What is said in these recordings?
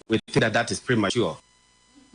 We think that that is premature.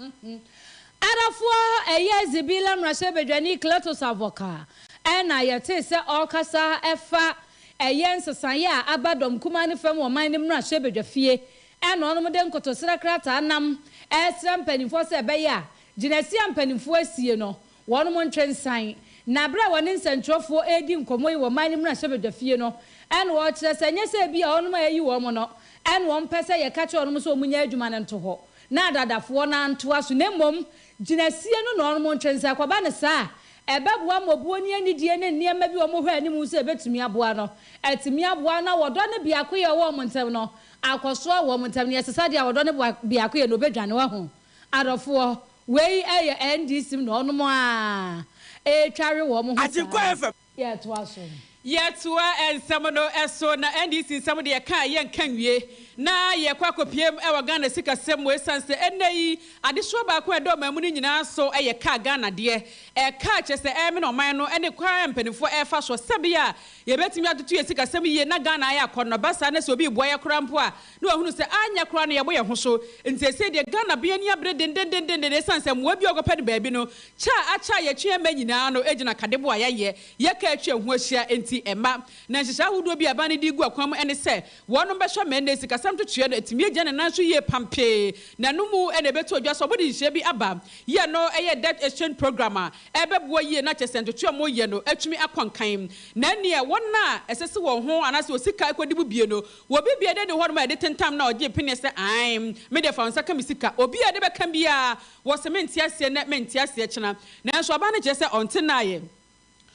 Arafoɔ ɛyɛ Zibila mmarahyɛbadwani Cletus Avoka ɛna yɛtee sɛ ɔrekasa ɛfa ɛyɛ nsesaeɛ a aba Dɔm Kumaa ne Fam Ɔman no mmarahyɛbadwafie ɛna ɔnom de nkotosrɛ krataa nam ɛresrɛ mpaninfoɔ sɛ ɛbɛyɛ a gyinasie a mpaninfoɔ asie no Wɔnom ntwe nsan. Na bere a wɔne nsɛnkyerɛwfoɔ redi nkɔmmɔ yi wɔ man no mmarahyɛbadwafie no, ɛna wɔrekyerɛ sɛ ɛnyɛ sɛ ebia wɔnom a yɛayi wɔnom no ɛna wɔmpɛ sɛ yɛka kyerɛ wɔnom sɛ wɔnyɛ adwuma no nto hɔ na adaadafoɔ no antoa so, na mmom gyinasie no na wɔnom ntwe nsan. Ɛkɔba no saa a, ɛbɛboa ma obuo ne anidie ne nneɛma bi a wɔhwɛ anim sɛ ɛbɛtumi aboa no atumi aboa na wɔdɔ ne biakoyɛ a ɔwɔ wɔn ntam no akɔsoa wɔ wɔn ntam. Nea ɛsesa deɛ a wɔdɔ ne biakoyɛ no, ɔbɛdwane. Wahunu? Adɔfoɔ, wei yɛ NDC mu na ɔnom aa ɛretware wɔn ho saa. Agyenkwa FM. Yɛtoa so. Yɛtoa nsɛm no so na NDC nsɛm deɛ yɛka a yɛnka nwie na yɛkɔ akɔpuem wɔ Ghana sikasɛm mu ɛsiane sɛ ɛnnɛ yi adesoa baako a ɛda ɔman mu no nyinaa so yɛ car Ghana deɛ ɛkaa kyerɛ sɛ ɛremene ɔman no ne kwan a mpaninfoɔ ɛrefa soɔ sɛbea a yɛbɛtumi atoto yɛn sikasɛm yie na Ghana ayɛ akɔnnɔ ba saa na sɛ obi reboa yɛn koraa mpo a na wahunu sɛ anyɛ koraa no yɛbɔ yɛn ho so. Enti seesei deɛ Ghana bɛn ani abere dendendendennden ɛsiane sɛ mmoa bi a wɔkɔpɛ no baabi no kyɛ a akyɛ a yɛtwe ɛmma nyinaa no gyina kadebo a yɛayɛ, yɛka atwa ɛho ahyia nti ɛmma. Na nhyehyɛe ahodoɔ bi a ɛbaa no de regu akwan mu ɛne sɛ wɔnom bɛhwɛ ma ɛnnɛ sikasɛm twetweɛ no atumi agyina ne nan so yie pampee na ɛno mu na ɛbɛto adwa sɛ wɔde nhyehyɛe bi aba yi a ɛno yɛ debt exchange programme a ɛbɛboa yie na kyerɛ sɛ ntwetwe a wɔyɛ no atumi akɔ nkan na ɛnneɛ wɔn a ɛsɛ sɛ wɔn ho anaasɛ wɔ sika kɔdi mu bie no Wɔ biribi a ɛdɛdi hɔ nom a yɛde tentam no a ɔgye pene sɛ aane, me deɛ fa wo nsa ka me sika. Obi a ɛde bɛka biara wɔ se mente aseɛ nnɛ, mente aseɛ kyena. Nanso aba no kyerɛ sɛ ɔnte nna ayɛ.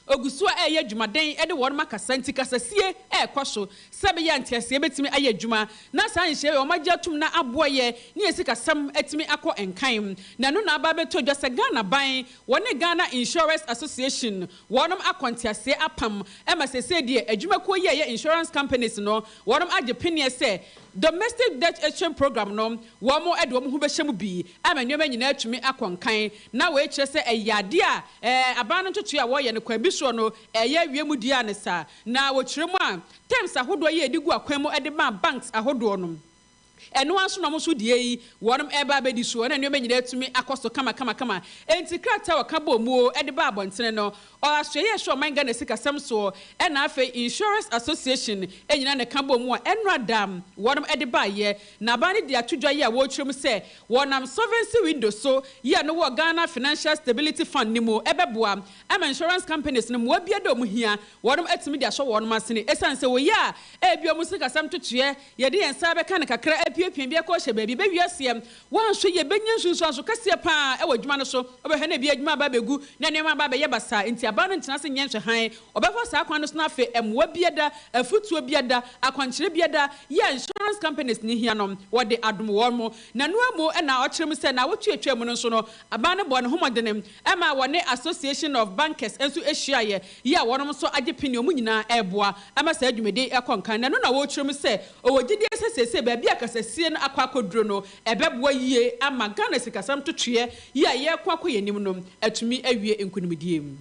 Ɔgu so a ɛreyɛ adwumaden de wɔnom akasa nti kasasie rekɔ so sɛbɛyɛ a nteaseɛ bɛtumi ayɛ adwuma na saa nhyehyɛeɛ wei wɔn agye atom na aboa yɛ ne yɛn sikasɛm atumi akɔ nkan. Na ɛno na aba abɛtɔ dwa sɛ Ghana ban wɔne Ghana Insurers Association Wɔn akɔ nteaseɛ apam ma sesei deɛ adwumakuo yi a ɛyɛ insurance companies no wɔn agye peneɛ sɛ domestic debt exchange program no wɔn de wɔn ho bɛhyɛ mu bi ama nneɛma nyinaa atumi akɔ nkan na wei kyerɛ sɛ ɛyɛ adeɛ a ɛɛ aban no ntotoeɛ a wɔyɛ no kwan bi soɔ no ɛyɛ awie mu deɛ a ne saa na wɔkyerɛ mu a terms ahodoɔ yi a ɛde gu akwan mu de maa banks ahodoɔ no Ɛno ara nso na wɔn nso deɛ yi, wɔnom reba abɛdi soɔ na nneɛma nyinaa atumi akɔ so kamakamakama. Enti krataa a wɔka bɔɔ muo de baa abɔntene no, ɔɔ asoɛeɛ a ɛhwɛ ɔman Ghana sikasɛm soɔ ɛna afei Insurers Association nyinaa na ɛka bɔɔ mu a ɛnnora da wɔnom de baeɛ. Na aban no de ato dwa yi a wɔrekyerɛ mu sɛ wɔnam solvency window so yi a no wɔ Ghana Financial Stability Fund no mu ɛbɛboa ama insurance companies no mmoa biara da wɔn hia wɔnom atumi de ahyɛ wɔnom asene ɛsiane sɛ wɔyi a ɛbi wɔn sikasɛm ntotoeɛ Yɛde yɛn nsa bɛka no kakra, apiapia bi akɔ ahyɛ baabi, bɛwie aseɛ. Woanhwɛ yie, bɛnya nsunsuanso kɛseɛ pa ara wɔ adwuma no so. Wobɛhwɛ na ebia adwuma aba abɛgu, na nneɛma aba abɛyɛ basaa, enti abaa no ntena ase nyɛ nhwɛhan. Wɔbɛfa saa kwan no so na afei mmoa biada, afutuo biada, akwankyerɛ biada yi a insurance companies no hia no, wɔde adom wɔn. Nanoa mu na ɔkyerɛ mu sɛ, naawɔtwe a ɛtwaam no nso no, abaa no bɔɔ ne ho mmɔdene. Ɛmaa wɔne Association of Bankers nso hyiaeɛ yi a wɔnom nso agye pene wɔn nyinaa reboa ma saa dwumadie yi ɛkɔ nkan na ɛno na wɔrekyerɛ mu sɛ ɔwɔ gyidie sɛ seesei baabi a kasasie no akɔ akɔduro no ɛbɛboa yie ama Ghana sikasɛm totweɛ yi a yɛreko akɔ yɛn anim no atumi awie nkonimdie.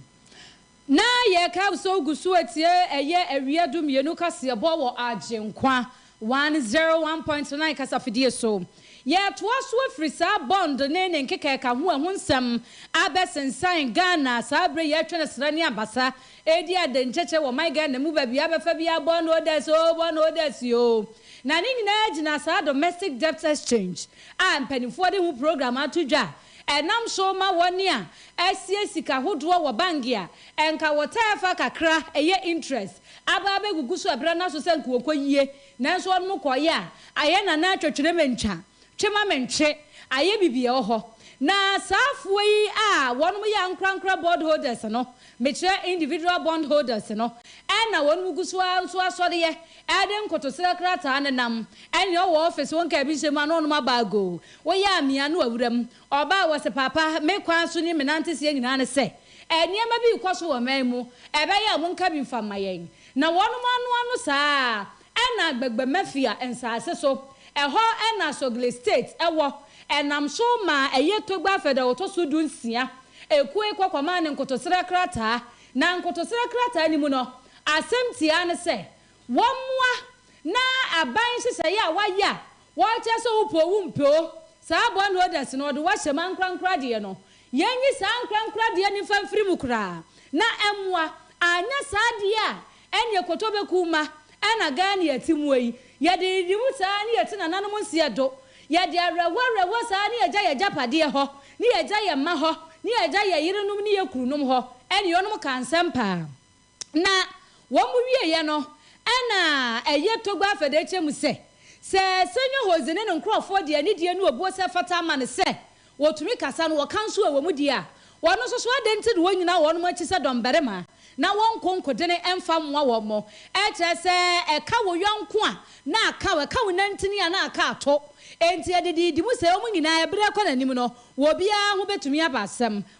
Ná yɛrekasɔw gu so atie ɛyɛ awia dumienu kaseɛbɔ wɔ Agyenkwa one zero one point nine kasafidie so. Yɛretoa so afiri saa bɔnd ne ne nkekaɛka ho ɛho nsɛm abɛsensan Ghana saa berɛ yi atwene asra ne abasa redi adenkyekyɛ wɔ ɔman Ghana mu baabi abɛfa biara bɔn odas oo bɔn odas oo na ne nyinaa gyina saa domestic debt exchange a mpaninfoɔ de ho program ato dwa a Ɛnam so ma wɔn a asie sika hodoɔ wɔ bank a ɛnka wɔtaa fa kakra ɛyɛ interest aba abɛgugu so ɛberɛ no aso sɛ nka wɔkɔ yie nanso wɔnom kɔ yɛ a ayɛ nana twɛ twene me ntwa twe ma me ntwe ayɛ bibi ɛwɔ hɔ na saa foɔ yi a wɔnom yɛ ankorankora bord holders no mekyerɛ individual bond holders no ɛna wɔnom gu so ara nso asɔreɛ ɛde nkotosrɛ krataa nenam ɛne ɔwɔ office wɔn ka ɛbi nhyɛ mu a na wɔnom aba ago Woyɛ a mia no wɔ wuram. Ɔbaa wɔ se, Paapa, me kwan so ne me nanteseɛ nyinaa ne sɛ nneɛma bi rekɔ so wɔ ɔman yi mu, ɛbɛyɛ a monka bi mfa mma yɛn. Na wɔnom anoa no saa ara. Ɛna Agbagba Mafia nsaase so, ɛhɔ na Sogli State wɔ, ɛnam so maa ɛyɛ Togba Fɛdɛl ɔtɔ so du nsia ekuo yi kɔ kɔmaa no nkotosrɛ krataa. Na nkotosrɛ krataa no mu no, asɛm tiaa ne sɛ wɔmmoa na aban nhyehyɛeɛ a wɔayɛ a Wɔn kyerɛ sɛ wo po wo mpɛ o. Saa bɔ no odɛs no ɔde wo ahyɛ mu ankorankora deɛ no. Yɛn nyi saa ankorankora deɛ no mfa mfiri mu koraa na ɛmmoa. Anyɛ saa deɛ a ɛneɛ kotɔ bɛku wo ma. Ɛna Ghana yi yɛte mu yi. Yɛde nyiyimu saa ne yɛte nananom nseɛ do. Yɛde awerɛhoɔ awerɛhoɔ saa ne yɛgya yɛn agyapadeɛ hɔ, ne yɛgya yɛn mma hɔ, ne yɛgya yɛn yerenom ne yɛn kununom hɔ. Ɛneɛ ɔnom ka nsɛm paa. Na wɔwieeɛ no, ɛnna ɛyɛ Togba Fadekye mu sɛ, sɛ Senyo Hoze ne ne nkurɔfoɔ de anidie ne obuo sɛ ɛfata ama no sɛ wɔtumi kasa no, wɔka nso wɔ wɔn deɛ a, wɔn nso so adɛn nti na wɔnnyina wɔnom akyi sɛ dɔmbarima na wɔnko nkodene mfa mmoa wɔn? Ɛkyerɛ sɛ, ɛka wo yɔnko a, na aka wo, ɛka wo nantini a, na aka ato. Enti ɛde dii di mu sɛ wɔn nyinaa, berɛ rekɔ n'anim no, obiara ho bɛtumi aba asɛm.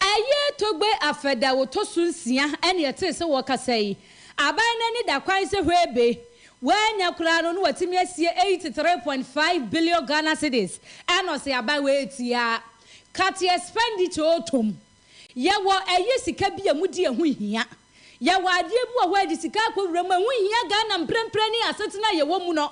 Ɛyɛ Togbe Afɛde a wɔtɔ so nsia na yɛtee sɛ wɔrekasa yi. Aban no ani da kwan sɛ hwɛbe, wɔanya koraa no na wɔatumi asie 83.5 billion Ghana cedis, ɛna ɔse aban wei etia cut expenditure tom. Yɛwɔ ɛyɛ sika bi a emu di ɛho hia. Yɛwɔ adeɛ bi wɔ hɔ a yɛde sika akɔwura mu a ɛho hia Ghana mprempren ne asetena a yɛwɔ mu no.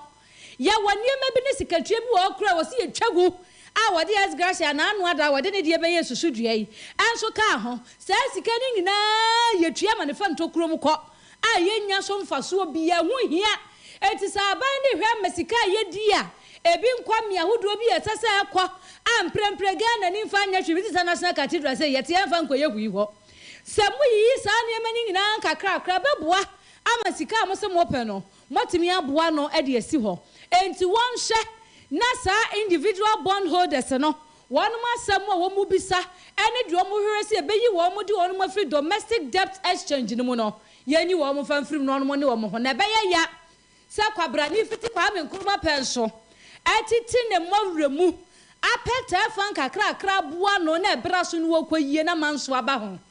Yɛwɔ nneɛma bi ne sikatua bi wɔ hɔ koraa a wɔse yɛtwa gu a wɔde ex gratia anaa ano ada a wɔde ne deɛ bɛyɛɛ susudua yi nso kaa ho. Saa sika no nyinaa yɛtua ma no fa ntokuro mu kɔ a yɛnnya so mfasoɔ biara. Ɛho hia. Enti sɛ aban de hwɛ ma sika a yɛdi a ɛbi nkɔ mmea ahodoɔ bi a ɛsɛ sɛ ɛkɔ a mprɛmprɛ Ghana ni mfa nyɛ hwee bi te sɛ National Cathedral sei yɛte ɛmfa nkɔyɛ hui hɔ. Sɛ moyiyi saa nneɛma no nyinaa nkakrakra a ɛbɛboa ama sika a mose mopɛ no Moatumi aboa no de asi hɔ. Enti wɔnhwɛ na saa individual bond holders no wɔnom asɛm a wɔn bisa ne deɛ wɔn hwehwɛ sɛ yɛbɛyi wɔnom de wɔnom afiri domestic debt exchange no mu no yɛnyi wɔnom mfa mfiri mu na wɔnom ne wɔn ho na ɛbɛyɛ ya sɛ kwabrane fiti Kwame Nkrumah pɛ nso atiti ne mma wura mu apɛ tɛɛfan kakrakra aboa no na ɛberɛ so no wɔkɔ yie na manso aba ho.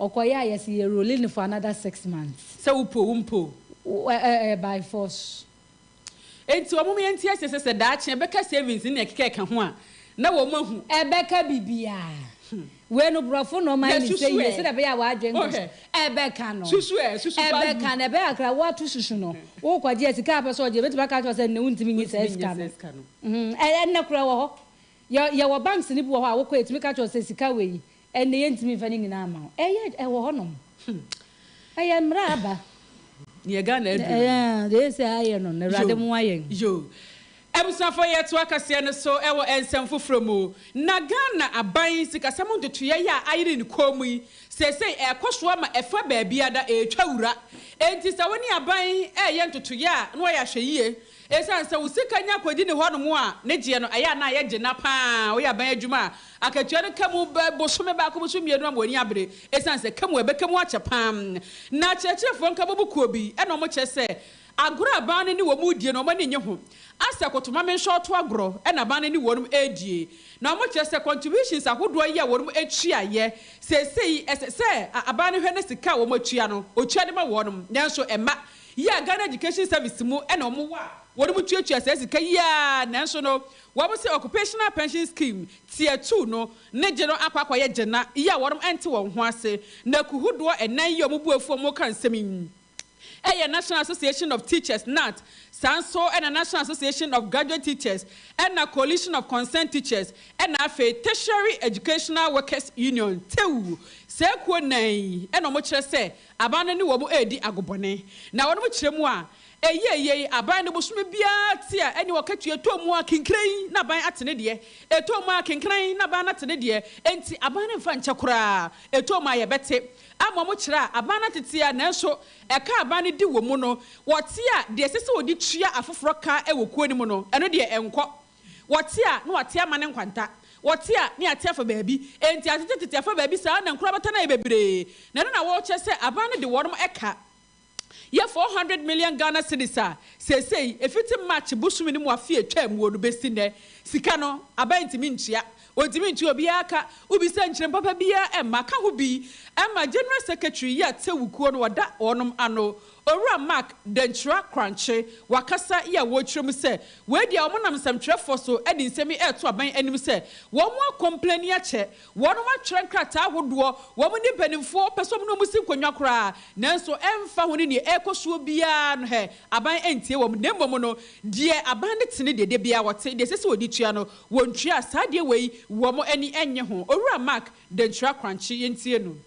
Ɔkɔyɛ a yɛse yɛ role no for another six months. Sɛ wo po wo mpo o. Wo ɛ ɛ by force. Enti wɔn mu yɛnte aseɛ sɛ sɛ daakye ɛbɛka savings ne nea ɛkeka ɛka ho a na wɔn ahu. Ɛbɛka bibiaa. Wei no brɔfo na ɔma yɛ ne sɛ yie sɛdeɛ ɛbɛyɛ a w'adwen nkɔ so. Ɛbɛka no. Susu ɛ, susu paa gu. Ɛbɛka no, ɛbɛyɛ a koraa woato susu no. Wokɔgye a sika a wopɛ sɛ ɔgye no, ɔbɛtumi aka akyerɛ wo sɛ nnɛ wontumi nye saa sika no. Ɛnɛ koraa ɛwɔ hɔ. Yɛwɔ banks no bi wɔ hɔ a wokɔ a ɛtumi ka kyerɛ wo sɛ sika wei Ɛnde yɛntumi mfa ne nyinaa mma wo. Ɛyɛ ɛwɔ hɔ nom. Ɛyɛ mmra aba. Neɛ Ghana aduru no. Ɛyɛ aa deɛ ɛsɛ ayɛ no no awurade moa yɛn. Yo. Abusuafoɔ yɛtoa kaseɛ no so wɔ nsɛm foforɔ mu. Na Ghana aban sikasɛm ntotoeɛ yi a ayere ne kɔn mu yi seesei ɛrekɔ so ama ɛfa baabiara da ɛretwa wura. Enti sɛ wo ne aban reyɛ ntotoeɛ a na wayɛ ahwɛyie Esiane sɛ wo sika nya kodi ne hɔnom a ne gyeɛ no, ɛyɛ a na yɛgye na pa ara woyɛ aban adwuma a akatua no ka mu bɛ bosome baako bosome mmienu ama w'ani abere esiane sɛ ka mu a ɛbɛka mu akyɛ pa ara. Na akyerɛkyerɛfoɔ nka bɔbu kuo bi na wɔn kyerɛ sɛ agorɔ a aban no ne wɔn redie no wɔn ani nnye ho asɛ koto ma me nso ɔto agorɔ na aban no ne wɔn redie na wɔn kyerɛ sɛ contributions ahodoɔ yi a wɔn atua yɛ seesei ɛsɛ sɛ aban no hwɛ na sika a wɔn atua no ɔtua de ma wɔn nanso ɛmma yi a Ghana Education Service mu na wɔn wɔ a wɔn mu tuatua saa sika yi ara nanso no wɔn se Occupational Pension Scheme tier two no ne gye no akɔ akɔyɛ gye na yi a wɔn nte wɔn ho ase na kuho doɔ nnan yi a wɔn bu afu a wɔn ka nsɛm yi yɛ National Association of Teachers, NAT, saa nso na National Association of Graduate Teachers ɛna Coalition of Concerned Teachers ɛna afei Tertiary Educational Workers Union, TEWU, saa kuo nnan yi na wɔn kyerɛ sɛ. Aban no ne wɔn redi agobɔne, na wɔnom kyerɛ mu a, ɛyɛ yei, aban no bosome biara te a ɛne ɔkatua ɛtɔ mu a kenkran na aban ate ne deɛ, ɛtɔ mu a kenkran na aban no ate ne deɛ, enti aban no mfa nkyɛ koraa, ɛtɔ mu a yɛbɛte. Ama wɔn kyerɛ a, aban no ate te a, nanso ɛka a aban no di wɔn mu no, wɔte a, deɛ ɛsɛ sɛ wɔde tua afoforɔ ka wɔ kuo no mu no, ɛno deɛ ɛnkɔ. Wɔte a, na wɔate ama ne nkwanta. Wɔte a, na wɔate afa baabi. Enti atete tete afa baabi saa ara na nkorabata no ayɛ bebree. Na ɛno na wɔrekyerɛ sɛ aban no de wɔnom ɛka yɛ four hundred million Ghana cedis a seesei ɛfiti March bosome no mu afe a ɛtwaa muo no bɛsi nnɛ sika no aban ntumi ntua. Wɔntumi ntua obiara ka. Wobisa nkyerem papa biara ɛmma ka ho bi ɛma General Secretary yi a tewukuo no wɔda wɔnom ano Owura Mark Dankyira Korankye, wakasa yi a wɔrekyerɛ mu sɛ, wei deɛ wɔnam nsɛmtwerɛfoɔ so de nsɛm yi reto aban anim sɛ, wɔn akɔmpleni akyɛ, wɔnom atwerɛ nkrataa ahodoɔ, wɔn ne mpanimfoɔ pɛ sɛ wɔne wɔn si nkonnwa koraa, nanso ɛmfa ho ne deɛ ɛrekɔ soɔ biara no hɛ, aban antie wɔn, na mmom no, deɛ aban no te ne deɛ dabiara wɔte, deɛ ɛsɛ sɛ wɔdi tua no, wɔntua, saa adeɛ wei wɔn ani nnye ho. Owura Mark Dankyira Korankye, yɛntie no.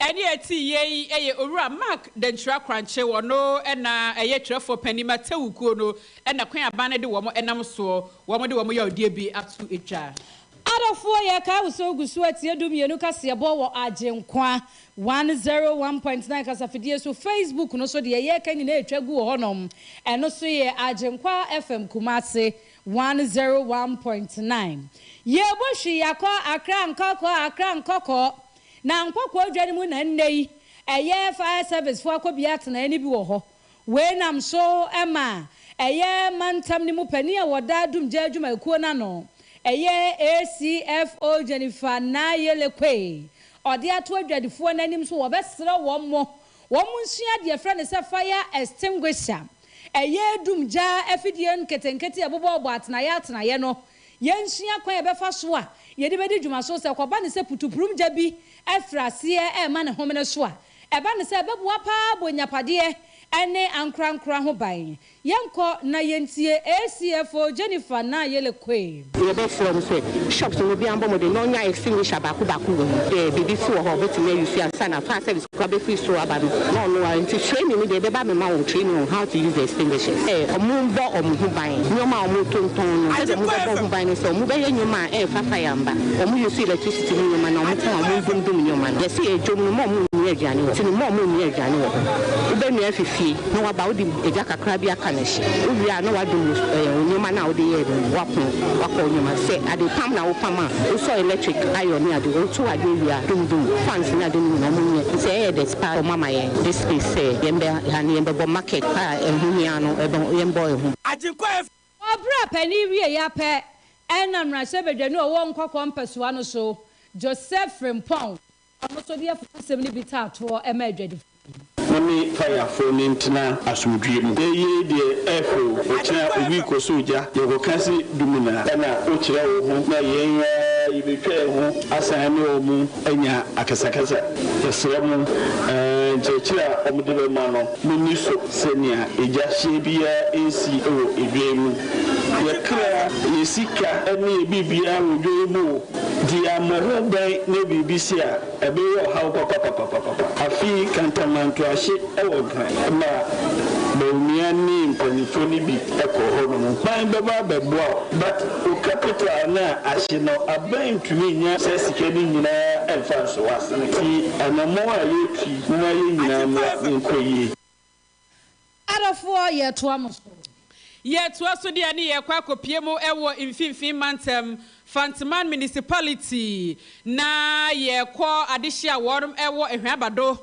Ɛne a ɛte yie yi yɛ Owura Mark Dankyira Korankye, ɔno na ɛyɛ Twerɛfoɔ Panin ma Tewu kuo no na kwan aban no de wɔn nam soɔ, wɔn de wɔn yaɔdeɛ bi ato dwa. Adɔfoɔ yɛkae wo sɛ wogu so atie Dum Mmienu kaseɛbɔ wɔ Agyenkwa one zero one point nine kasafidie so, Facebook no so deɛ yɛreka nyinaa ɛtwa gu wɔ hɔ nom, ɛno so yɛ Agyenkwa FM Kumase one zero one point nine. Yɛɛbɔ hwii akɔ Accra Nkɔkɔɔ Accra Nkɔkɔɔ na Nkokoɔ dwa no mu na nnɛ yi ɛyɛ Fire Service foɔ akɔbea atenaeɛ no bi wɔ hɔ. Wei nam so ma ɛyɛ mantam no mu panin a ɔda Dumgya adwumakuo no ano, ɛyɛ ACFO Jennifer Nayele Quay, ɔde ato adwadifoɔ no anim so wɔbɛsrɛ wɔn wɔn nsua deɛ yɛfrɛ no sɛ Fire Extinguisher, ɛyɛ Dumgya afidie nketenkete a ɛbobɔbobɔ atenaeɛ atenaeɛ no Yɛnsua kwan a yɛbɛfa so a yɛde bɛdi dwuma so. Sɛ ɛkɔba no sɛ putupurum gya bi afiri aseɛ rema ne homene so a, ɛba no sɛ ɛbɛboa pa ara abɔ nnyapadeɛ ne ankorankoro ho ban. Yɛnkɔ na yɛntie ACFO Jennifer Nayele Quaim. Yɛbɛsrɛ mo sɛ bishops no mu biara mmɔ mmɔden na ɔnya extinguisher baako baako wɔ mu. Daabi, bi nso wɔ hɔ a wɔbɛtumi ayi so ansa na fire service. Kwa bɛfiri soro aba no, na ɔno ara nti training no deɛ ɛbɛba abɛma wɔn training on how to use the extinguishers. Sɛ wɔrebɔ wɔn ho ban, nneɛma a wɔtontɔn no, sɛdeɛ wɔbɛbɔ ho ban ne sɛ wɔbɛyɛ nneɛma a ɛmfa fire mma, wɔn use electricity mu nneɛma na wɔn kɔn a wɔdumdum nneɛma no. Yɛse yɛ dwom no mma wɔnnoa aduane wɔ hɔ, nti no mma wɔnnoa aduane wɔ hɔ. Wobɛnoa afi fie na woaba wode gya kakra bi aka no. Wowie a na woadum wo nneɛma no a wode yɛɛ no w'apono, w'akɔ wo nneɛma. Sɛ adepam na wopam a, wosɔ electric iron ne ade, wotow ade awie a, dum dum fans ne ade no nyinaa. Ɔmo nyɛ sɛ ɛyɛ dɛt paa ɔmo ama yɛn this space sɛ yɛn bɛ ha ne yɛn bɛ bɔ market a ɛho hia no ɛbɔ yɛn bɔ ɛho. Agyenkwa F. Ɔbra panin wieeɛ ara pɛ na mmarahyɛbadwani a ɔwɔ Nkɔkɔɔ mpɛsoa no so, Joseph Frimpong, Ɔno nso de afopasɛm no bi taa toɔ ma adwadifoɔ no. Na me Kaiafo ne ntena asomdwie mu. Eyei deɛ ɛɛfɛ o, ɔkyena obi kɔsoo gya na ɔkɔka se Dumina na wokyerɛ wo ho na yɛn ara yɛbɛtwa yɛn ho asan ne wɔn anya akasakasa. Yɛsrɛ mo, nkyerɛkyerɛ a wɔde bɛma no, monni so sɛnea egya hyeɛ biara nsi wɔ edwa yi mu. Yɛkra, yɛsika ne yɛbiribiara wɔ dwa yi mu o. Diammɔhɔ bɛn ne biribi si a ɛbeyɛ ɔhaw papapapapapa? Afei kantamantoahye wɔ hɔ ma baunua ne mpanyimfo no bi kɔ hɔnom. Hwan bɛba abɛboa wo? But wo capital no a ahye no, aban ntumi nnya saa sika no nyinaa mfa nso wo asene. Nti anammɔn a yɛretu yi, momma yɛn nyinaa mmra na ɛnkɔ yie. Adɔfoɔ, yɛretoa mo so. Yɛretoa so deɛ ne yɛrekɔ akɔpie mo wɔ Mfinfin Mantam, Fanteman Municipality, na yɛrekɔ adehyeɛ a wɔnom wɔ Hwɛn-Abado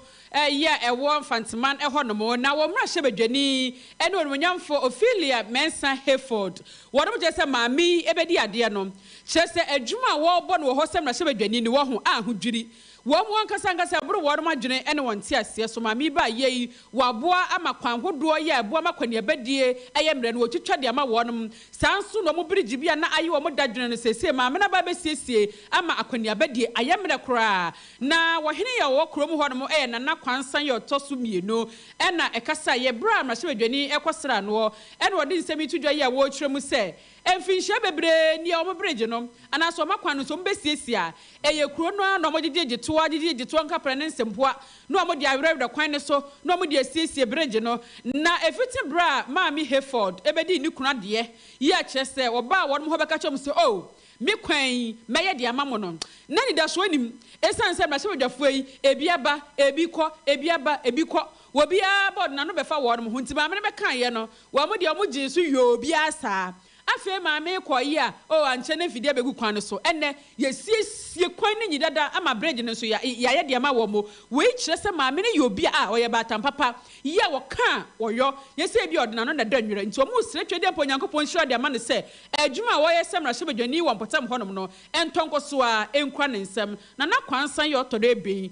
yi a ɛwɔ Mfanteman hɔ nom, na wɔn mmarahyɛbadwani ne onimuonyamfoɔ Ophelia Mensah Hayford, wɔnom kyerɛ sɛ maame yi bɛdi adeɛ no, kyerɛ sɛ adwuma a wɔrebɔ no wɔ hɔ sɛ mmarahyɛbadwani no, wɔho ahodwiri. Wɔn ankasa ankasa ɛboro wɔnom adwene ne wɔn nteaseɛ so. Maame yi baayɛ yi wɔ aboa ama kwan hodoɔ yi a ɛboa ma akɔneabadie ɛyɛ mmerɛ no wɔtwitwa de ama wɔnom. Saa nso na wɔn birigyi bi a na aye wɔn dadwene no seesei maame no aba abɛsiesie ama akɔneabadie ayɛ mmerɛ koraa. Na wɔhene yi a ɔwɔ kurom hɔnom yɛ Nana Kwansan yɛ ɔtɔ so mmienu na ɛkasaeɛ berɛ a mmarahyɛbadwani rekɔsra noɔ na ɔde nsɛm yi to dwa yi a wɔretwerɛ mu sɛ, Mfinhyia bebree ni a wɔn bere gye no, anaasɛ wɔma kwan no nso, wɔbɛsiesie a, ɛyɛ kuro no ara na wɔgyegyegye toa, gyegyegye toa nkaprɛ ne nsɛmpoa na wɔde awerɛwerɛ kwan no so na wɔde asiesie bere gye no. Na ɛfiti berɛ a Maame Hayford bɛdii ne kunu adeɛ yi a kyerɛ sɛ wɔbaa wɔn hɔ bɛka kyerɛɛ wɔn sɛ, Oh, me kwan yi, mɛyɛ deɛ ama mo no, na anidasoɔ nnim, ɛsiane sɛ mmarahyɛbadwafoɔ yi, ebi aba, ebi kɔ, ebi aba, ebi kɔ, wɔbiara bɔ n'ano bɛfa wɔn ho, nti Maame no bɛkaeɛ no, Wɔn deɛ wɔn gyee so yoo obiara saa. Afei maame kɔɔ yea oh ankyɛ na mfidie abɛgu kwan no so. Ɛnnɛ yɛasiesie kwan no nyi dada ama bridge no nso ya yɛayɛ de ama wɔn. Wei kyerɛ sɛ maame no yɛ obi a ah ɔyɛ baatan papa. Yea wɔka a ɔyɔ nyɛ sɛ ebia ɔde n'ano na ɛdɔ nwerɛ nti wɔn resrɛ twɛdeɛ mpo Onyankopɔn nhyira de ama no sɛ adwuma a ɔyɛ sɛ mmarahyɛbadwani wɔ mpɔtam hɔnom no ɛntɔ nkɔsoɔ ara ɛnkura ne nsam. Nana Kwansan yɛ ɔtɔ dɔ ebien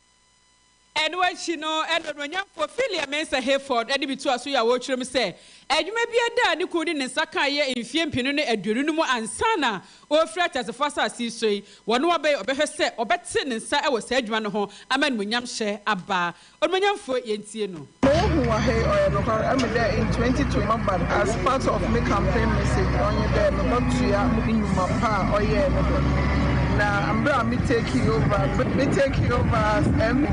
Ɛno akyi no, ɛnna onuonyamfo Philea Mensah Hayford de me tuu aso yɛ awotwere mu sɛ adwuma bi a daa ne kunu de ne nsa kae yɛ mfeɛ mpenu ne aduonu no mu ansa na ɔrefiri ateasefo asase yi so yi, wɔne wo abɛyɛ ɔbɛhwɛ sɛ ɔbɛte ne nsa wɔ saa adwuma no ho ama animuonyamhyɛ aba. Onuonyamfo, yɛntie no. Mehu wɔ ha yi ɔyɛ nokwar emi dɛ Ntwenty to Mabad as part of me campaign message ɔnye dɛ mobɔtoa ndwuma pa a ɔyɛe no do na mber a me takee over ber me takee over as MP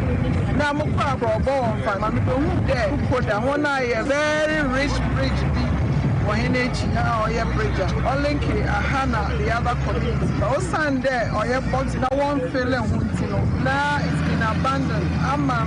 na mokɔr abrɔbɔ wɔ Mfanta ma mebehun dɛ Kokoda hɔn ayɛ very rich bridge bi wɔ hɛn ekyi ha a ɔyɛ bridge a ɔlinke aha na the other community but osiandɛ ɔyɛ box na wɔnnfille ho ntsi no na it's been abandoned ama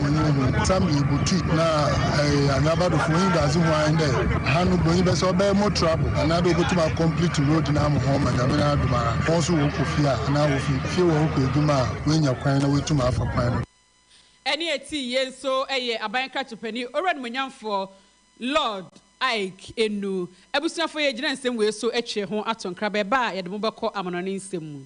Bonyi no ho. Sa me botui na Anwaba do fo wonyi dadze ho ahen dɛ ha no Bonyi bɛsɛ ɔbɛyɛ more trouble anaa dɛ obotum a complete road no ama hɔn ma Nyame n'adom a hɔn so wɔrokɔ fie a anaa wofi fie wɔrokɔ edwuma a woenya kwan na woetum afa kwan no do. Ɛne ɛte yie nso yɛ aban nkratopanyi Owura Nimuonyamfoɔ Lord Ike Enu. Abusuafoɔ yɛgyina nsɛm wei so atwe ho ato nkraba ɛba a yɛde mo bɛkɔ amanɔne nsɛm mu.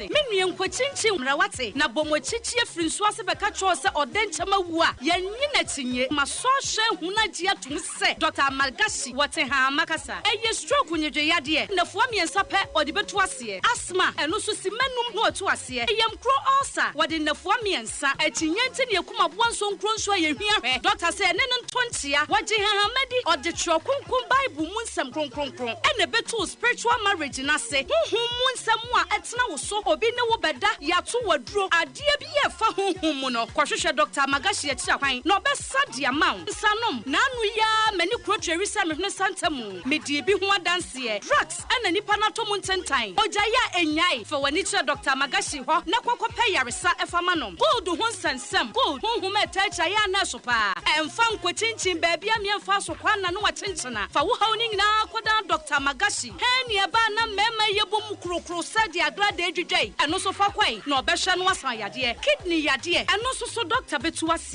sɛ, Me nua, nkokyinkyin mmara, woate? Na bɔ mo akyi kyeɛ firi nsuo ase bɛka kyerɛ wo sɛ ɔdɛ nkyɛ mawu a, yɛnnye n'akyinnye. M'asɔrhwɛ ahunu agye atom sɛ Dɔkta Amalgashi, wɔ Tehama, kasa. Ɛyɛ stroke nnwedweyadeɛ. Nnafua mmiɛnsa pɛ ɔde bɛtu aseɛ. Asthma, ɛno nso, simma num na ɔtu aseɛ. Ɛyamkuro ulcer, wɔde nnafua mmiɛnsa. Sa akyinnye nti ne akum aboa nso nkuro nsu a yɛhia hwɛ dɔkta sɛ ɛne no ntɔ nkyea. Wɔgye nhanhamma di, ɔde twerɛ kronkron Bible mu nsɛm kronkronkron na ɛbɛtoo spiritual marriage no ase, honhom mu nsɛm a ɛtena wo so, obi ne wo bɛda, yɛato wo aduro, adeɛ biara a ɛfa honhom mu no. Kɔhwehwɛ Dɔkta Magashi akyiri kwan na ɔbɛsa de ama wo. Nsa nom. Naano yi ara m'ani kuro tweri sɛ mehwene santa mu. Medii bi ho adanseɛ. Drugs. Ɛna nnipa no atɔ mu ntentan. Ogyae a ennyae, fa w'ani kyerɛ Dɔkta Magashi hɔ na kɔ kɔpɛ yaresa fa ma no. Gold ho nsɛnsɛm, gold ho nhoma a ɛtaa akyire ayɛ anɛɛso paa. Ɛmfa nkɔkyinkyin baabi a mmea mfaa so kwan na ne wakyenkyena. Fa wo haw no nyinaa kɔdan Dɔkta Magashi. Hɛn nea ɛbaa na mmarima yi yɛbɔ mu korokoro sɛ deɛ adoradɛɛ dwidwa yi, ɛno nso fa kɔ ɛ na ɔbɛhwɛ na wasan yadeɛ. Kidney yadeɛ, ɛno nso so dɔkta bɛtu ase.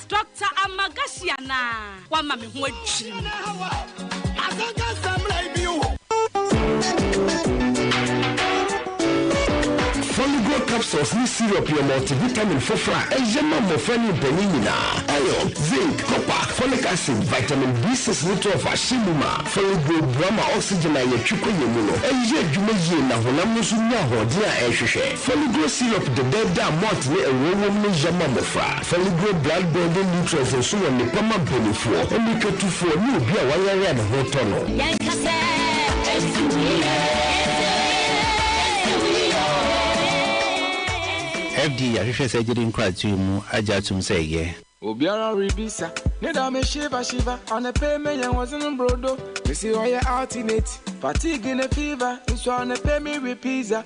Doctor Amagashi anaa? Wama me ho adwiri me. Foligrow capsules ne syrup yɛ multivitamin foforo a ɛyɛ ma mmofra ne mpanyin nyinaa. Iron, zinc, copper, folic acid, vitamin B6 ne 12 ahyɛ mu ma. Foligrow boa ma oxygen a yɛtwe kɔ yɛn mu no yɛ adwuma yie na honam no nso nya ahoɔden a ɛhwehwɛ. Foligrow syrup dedaada a malt ne ngo wom no yɛ ma mmofra. Foligree blood building nutrients nso wɔ nnepa ma banifoɔ, mmirikatufoɔ ne obi a wayare a ne ho retɔ no. Yɛnka sɛ, Ɛnte wo yie, ɛnte wo yie, ɛnte wo yie oo. FDA ahwehwɛ surgery nkratoe mu agye atom sɛ ɛyɛ. Obiara rebisa ne da me shiver shiver Anɔpɛ yi meyɛ hosen brodo Mese ɔyɛ alternate Fatigue ne fever Nso anɔpɛ yi me we pizza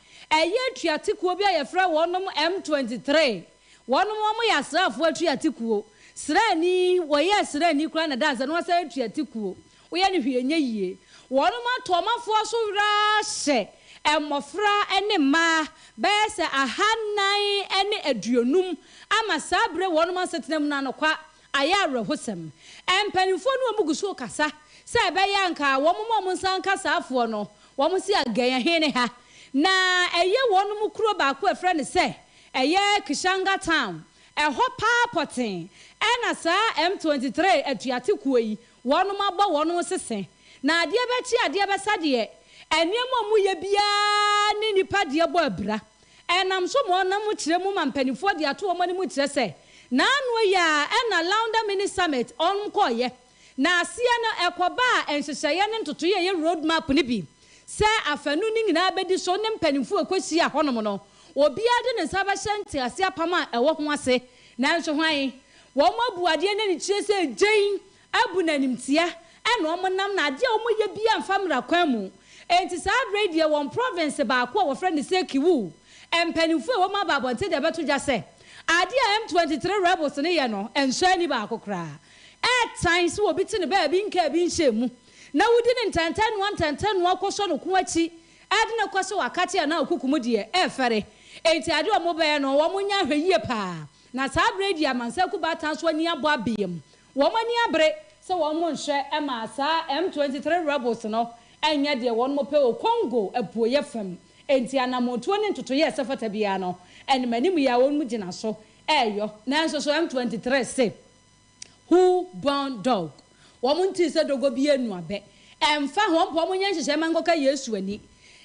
Ɛyɛ atuatekuo bi a yɛfrɛ wɔnom M twenty three. Wɔnom wɔn yɛ asraafoɔ atuatekuo. Sraani, wɔyɛɛ sraani koraa na ɛdaa nsɛ na wɔasan ayɛ atuatekuo. Woyɛ no hwee ɛnyɛ yie. Wɔnom ato wɔn afoɔ so werɛ ahyɛ mmɔfra ne mmaa bɛyɛ sɛ ahanan ne aduonum ama saa berɛ wɔnom asetena mu no anokwa Ayɛ awerɛhosɛm. Mpanimfoɔ ne wɔn gu so rekasa sɛ ɛbɛyɛ a anka wɔn ma wɔn nsa nka saa afoɔ no, wɔn se again ɛhe ne ha? Na ɛyɛ wɔnom kuro baako a ɛfrɛ no sɛ ɛyɛ Kishanga Town, ɛhɔ paa pɔtee ɛna saa M23 atuate kuo yi wɔnom abɔ wɔnom sese. Na adeɛ bɛkye adeɛ bɛsa deɛ, nneɛma a wɔyɛ biara ne nnipa deɛ bɔ abira. Ɛnam so ma ɔnam mu kyerɛ mu ma mpaninfoɔ de ato wɔn anim kyerɛ sɛ, naano yi ara ɛna Launda Mini Summit wɔn kɔeɛ. Na aseɛ no ɛkɔbaa nhyehyɛeɛ ne ntotoeɛ a ɛyɛ road map no bi sɛ afanu no nyinaa bɛdi so ne mpaninfoɔ a ɛkɔhyia hɔnom no obiara de ne nsa bɛhyɛ ntease apam a ɛwɔ ho ase. Nanso hwan? Wɔn abu adeɛ no anikyire sɛ gyen abu no animtia ɛna wɔn nam na adeɛ a wɔn yɛ biara mfa mmra kwan mu enti saa berɛ yi deɛ wɔn province baako a wɔfrɛ no sɛ Kiwu mpaninfoɔ a ɛwɔ mu aba abɔnten de abɛto dwa sɛ adeɛ a M twenty three rebels no yɛ no nsɔ ani baako koraa ɛtan sɛ obi te no baabi nka ebi nhyɛ mu na wodi no ntɛntɛnoa ntɛntɛnoa kɔsɔ no ko akyi ɛde no kɔ sɛ wakate anaa ɔkukum deɛ ɛfɛre enti adeɛ a wɔn bɛyɛ no wɔn nyɛ ahwɛ yie paa na saa berɛ yi deɛ amansan Kuba Atanso ani abɔ abem Wɔn ani abere sɛ wɔn nhwɛ maa saa M twenty three rebels no nyɛ deɛ wɔn pɛ wɔ Congo apueɛ fam, enti anamɔtuo ne ntotoeɛ a ɛsɛ fata biara no animanim yi ara wɔn gyina so reyɔ. Nanso so M twenty three se, Who born dog? Wɔn ntee sɛ dɔgɔ bi anu abɛ. Ɛmfa ho, wɔmpɛ wɔn nyɛ nhyehyɛe mma nkɔka Yesu ani.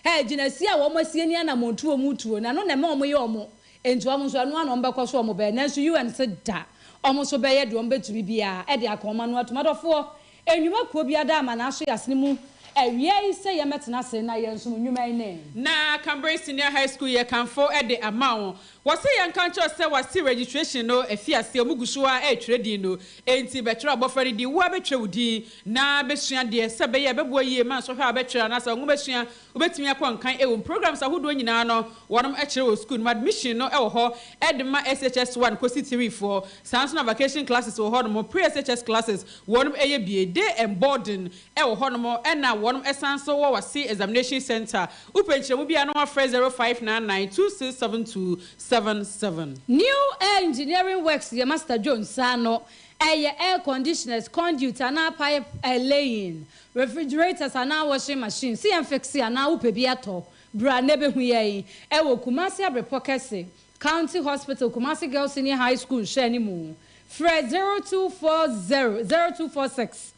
Gyinasie a wɔn asie ne anamɔtuo wɔn retuo no, ɛno na ɛma wɔyɛ wɔn Enti wɔn nso ɛno ara na wɔbɛkɔ so wɔbɛyɛ. Nanso UN se da wɔn nso bɛyɛ deɛ wɔbɛtumi biara de aka wɔn ano atom. Adɔfoɔ, nnwuma kuo biara da ama n'aso y'asene mu awia yi sɛ yɛn bɛtena ase na yɛn som nnwuma yi ne. Na Cambridge Senior High School yɛ kanfo de ama wo. Wɔ se yɛn nka nkyerɛ wo sɛ wɔ se registration no afi aseɛ, wɔn gu so ara retwerɛ din no. Enti bɛtwerɛ abɔfra no din, wo ara bɛtwerɛ wo din na bɛsua deɛ sɛ ɛbɛyɛ a ɛbɛboa yie ma nsɔhwɛ a wɔbɛtwerɛ anaasɛ wɔn nwomasua Wobɛtumi akɔ nkan ɛwom. Programs ahodoɔ nyinaa no wɔnom ɛkyerɛ wɔ sukuu no mu. Admission no ɛwɔ hɔ ɛde ma SHS one kɔsi three foɔ. Saa nso na vacation classes wɔ hɔ nom. Pre SHS classes wɔnom ɛyɛ bie. Day and boarding ɛwɔ hɔ nom ɛna wɔnom ɛsan nso wɔ wase examination center. Wopɛ nkyerɛmu biara no wafrɛ zero five nine nine two six seven two seven seven. New Air Engineering Works yɛ Master Jones saa no ɛyɛ air conditioners, conduit anaa pipe laying Refrigerators anaa washing machine sɛ yɛn fixe anaa wopɛ bi tɔ, bra na bɛhu yɛn ɛwɔ Kumasi Abrepɔ Kɛse County Hospital Kumasi Girls Senior High School nhwɛani mu. Frɛ 0240 0246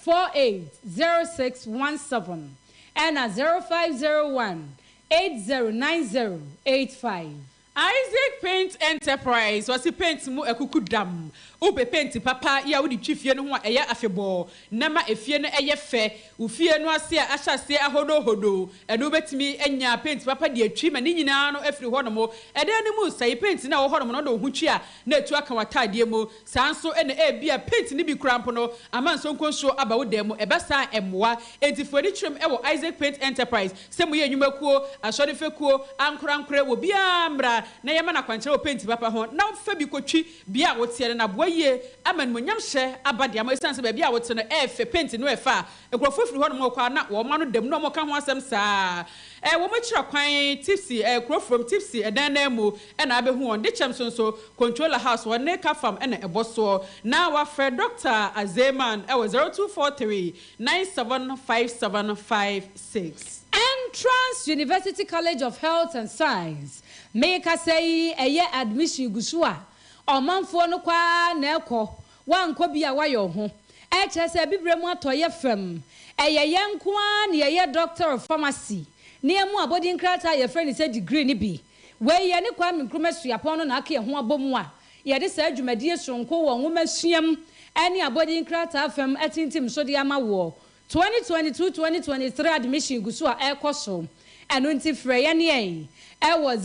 480617 ɛna 0501 809085. Isaac Paint Enterprise, Wɔse paint mu akuku dam. Wopɛ paint papa yi a wode twi fie no ho a ɛyɛ afebɔɔ na ɛma efie no yɛ fɛ. Wo fie no ase a ahyɛ aseɛ ahodohodo no wobɛtumi anya paint papa de atwi ma ne nyinaa no afiri hɔnom. Ɛdan no mu nsa yi, paint no a ɛwɔ hɔnom no wode wo ho twi a na atu aka w'ataadeɛ mu. Saa nso na ebia paint no bi koraa mpo no ama nsonko nsuo aba wo dan mu. Ɛba saa a, ɛmmoa. Enti fa w'ani kyerɛm wɔ Isaac Paint Enterprise. Sɛ moyɛ nnwumakuo, asɔre fekuo, ankorankorɛ, wɔ biara mmra na yɛmma no akwankyerɛ wɔ paint papa ho na fa bi kɔtwi bea a woteɛ no. Na aboa yie ama animuonyamhyɛ aba de ama wo ɛsiane sɛ baabi a wote no ɛyɛ fɛ. Paint no ɛfa nkurɔfoɔ firi hɔnom rekɔ a na wɔn ano dam na wɔka ho asɛm saa. Wɔakyira kwan, tipsy, kuro fam, tipsy, ɛdan nan mu. Ɛna abɛhu wɔn de kyɛm so nso controller house hɔ ne ka fam ɛna ɛbɔ soɔ na wafrɛ Doctor Azeman wɔ zero two four three nine seven five seven five six. Entrance University College of Health and Science mekasa yi ɛyɛ admission gu so a ɔmanfoɔ no kɔ ara na ɛkɔ wankɔ bi a wayɛ wo ho ɛkyerɛ sɛ abibire mu atɔeɛ fam ɛyɛ yɛn nko ara na yɛyɛ Doctor of Pharmacy ne ɛmu abɔdin krataa a yɛfrɛ no sɛ degree no bi Wei yɛ ne Kwame Nkrumah Suapɔn no n'aka ɛho abɔmu a yɛde saa dwumadie soronko wɔ nwoma suam ne abɔdin nkrataa fam atintim so de ama woɔ. 2022-2023 admission gu so a ɛrekɔ so, ɛno nti frɛ yɛne yɛn ɛwɔ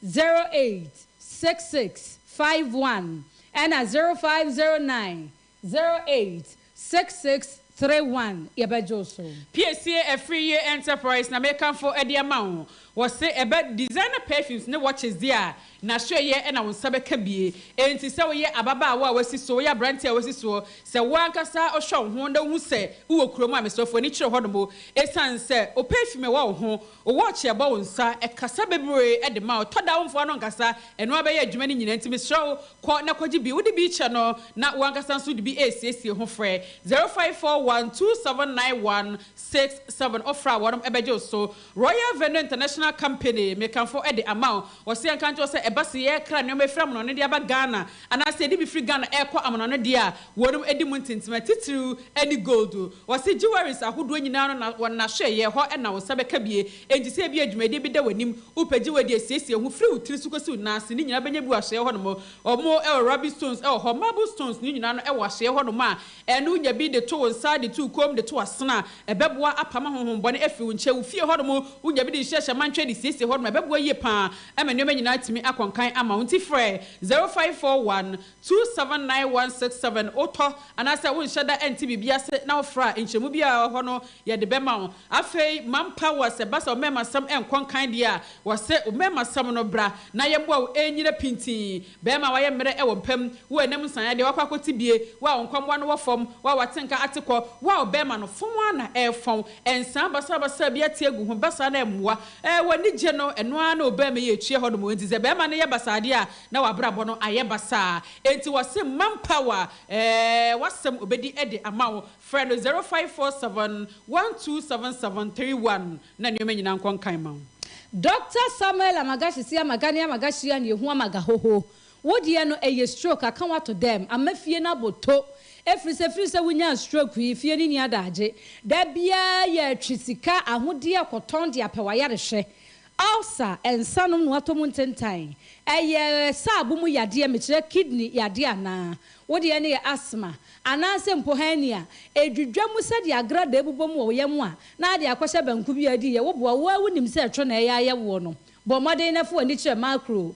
0509-086651 ɛna 0509-086651. Zero eight six six three one yɛbɛgye wo so. Piesie afiri yie enterprise na mekamfo de ama wo. Wɔse ɛbɛ designer perfumes ne watches deɛ a, n'asoɛeɛ na wo nsa bɛka bie. Enti sɛ woyɛ ababaawa a wasi soɔ, woyɛ aberanteɛ a wasi soɔ, sɛ wo ankasa wohwɛ wo ho na wohu sɛ wowɔ kurom a, mesrɛ fo ani kyerɛ hɔnom esiane sɛ wo perfume wɔ wo ho Wo watch yɛ bɔ wo nsa ɛkasa bebree ɛde ma wo tɔ da wo mfoa no ankasa ɛno ara bɛyɛ adwuma no nyina nti mesrɛ wo kɔ na kɔgye bi wo de bi kyɛ no na wo ankasa nso de bi ɛresiesie ho frɛ zero five four one two seven nine one six seven wo frɛ a wɔnom ɛbɛgye wo so Royal Venue International Company mekamfo ɛde ama wo wɔse yɛnka nkyerɛ wo sɛ ɛba se yɛkra nnoɔma ɛfiri amonono de aba Ghana Anaa sɛ yɛde bi firi Ghana ɛrekɔ amanoano deɛ a, wɔnom ɛdi mu ntentema, titiriw ɛne gold. Wɔse jewelries ahodoɔ nyinaa no na wɔn na hwɛ, yɛ hɔ na wo nsa bɛka bie. Enti sɛ ebia dwumadie bi da w'anim, wopɛ jewelry a siesie ho firi wo tiri so kɔsi wo nan ase, ne nyinaa bɛnya bi wɔ ahyeɛ hɔ nom. Wɔn ɛwɔ ruby stones ɛwɔ hɔ, marble stones no nyinaa no ɛwɔ ahyeɛ hɔ nom a ɛno nya bi de to wo nsa, de to wo kɔn mu, de to w'asene a ɛbɛboa apam ahonhombɔne afiri wo nkyɛn. Wo fie hɔ nom, wonya bi de hyɛ hyɛ mantwɛ de siesie hɔ nom a ɛbɛboa yie paa Ɛma nneɛma nyinaa tumi akɔ nkan ama wo. Nti frɛ 0541 279 167. Wotɔ anaasɛ wonhyɛ da nte biribi ase na wofrɛ a, nkyerɛmu biara a ɛwɔ hɔ no yɛde bɛma wo. Afei Manpower, sɛ ɛba sɛ wo mmarimasɛm nkɔ nkan deɛ a, wɔse wo mmarimasɛm no bra na yɛmmoa wo ɛnyina pintinn. Barima a wayɛ mmerɛ wɔ mpa mu, wo a ɛnam nsaeɛ deɛ wakɔ akɔte bie, wo a wo nkwammoa no wɔ fam, wo a wate nka ate kɔ, wo a wo barima no fɔn ara na ɛrefɔn, nsaa basabasa bi ate agu ho, ɛba saa no ɛmmoa. Ɛɛ, w'anigye no, ɛno ara na ɔbɛn me yɛ atua hɔ nom. Enti sɛ barima no yɛ basaa deɛ a, na w'abrabɔ no ayɛ basaa. Enti wɔse Man Power, ɛɛ, w'asɛm ɔbɛdi de ama wo. Frɛ no zero five four seven one two seven seven three one na nneɛma nyinaa nkɔ nkan ma wo. Doctor Samuel Amagashi si Amagania Amagashia Niehua Magahoho Wo deɛ no ɛyɛ stroke aka wo ato dɛm ama fie no abo to ɛfirisɛ firisɛ wo nyaa stroke yi fie no nni adaagye da biaa yɛ twe sika ahodeɛ kɔtɔn de apɛ wayare hwɛ ulcer nsa nom na watɔ mu ntentan ɛyɛ saabo mu yadeɛ mekyerɛ kidney yadeɛ anaa wo deɛ no yɛ asthma anaasɛ mpo hernia ɛdwidwa mu sɛdeɛ agradaa ɛbobɔ mu wɔ wo yam a na ade akɔhyɛ banku biaa diiɛ wo boa wo ara wo nim sɛ ɛtwo na ɛyɛ ayɛ woɔ no bɔ mmɔden na fa w'ani kyerɛ macro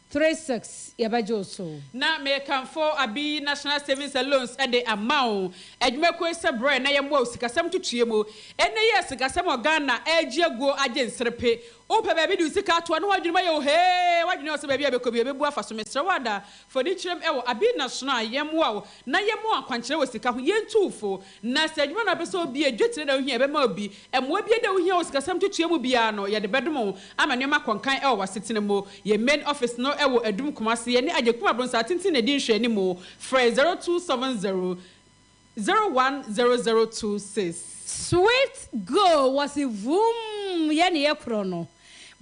Three six yɛbɛgye wo so. Na mekamfo Abi National Savings and Loans de ama wo. Adwumakuo yi sɛ brɛ na yɛmmoa wo sikasɛm ntotoeɛ mu. Ɛnnɛ yi a sikasɛm wɔ Ghana regye aguo agye nserepe, wopɛ baabi de wo sika ato a na w'adwene mu ayɛ wo hee, w'adwene wɔ sɛ baabi a ɛbɛkɔ biara ɛbɛbu afa so. Mesrɛ wo ada fo ani kyerɛ mu wɔ Abi National a yɛmmoa wo na yɛma wo akwankyerɛ wɔ sika ho. Yɛntu wo fo. Na sɛ edwuma no a epɛ sɛ obi yɛ, dwetire na ohia a ɛbɛma obi, mmoa biara a ohia wɔ sikasɛm ntotoeɛ mu biara no, yɛde bɛdom wo ama nneɛma akɔ nkan wɔ w'asetena mu. Yɛn main office no wɔ Adum Kumase. Yɛne Agyekum Abronsaa Tenten na ɛdi nhwɛanimu. Frɛ 0270 010026. Sweet Go wɔ se vuumm yɛ ne yɛ korɔ no.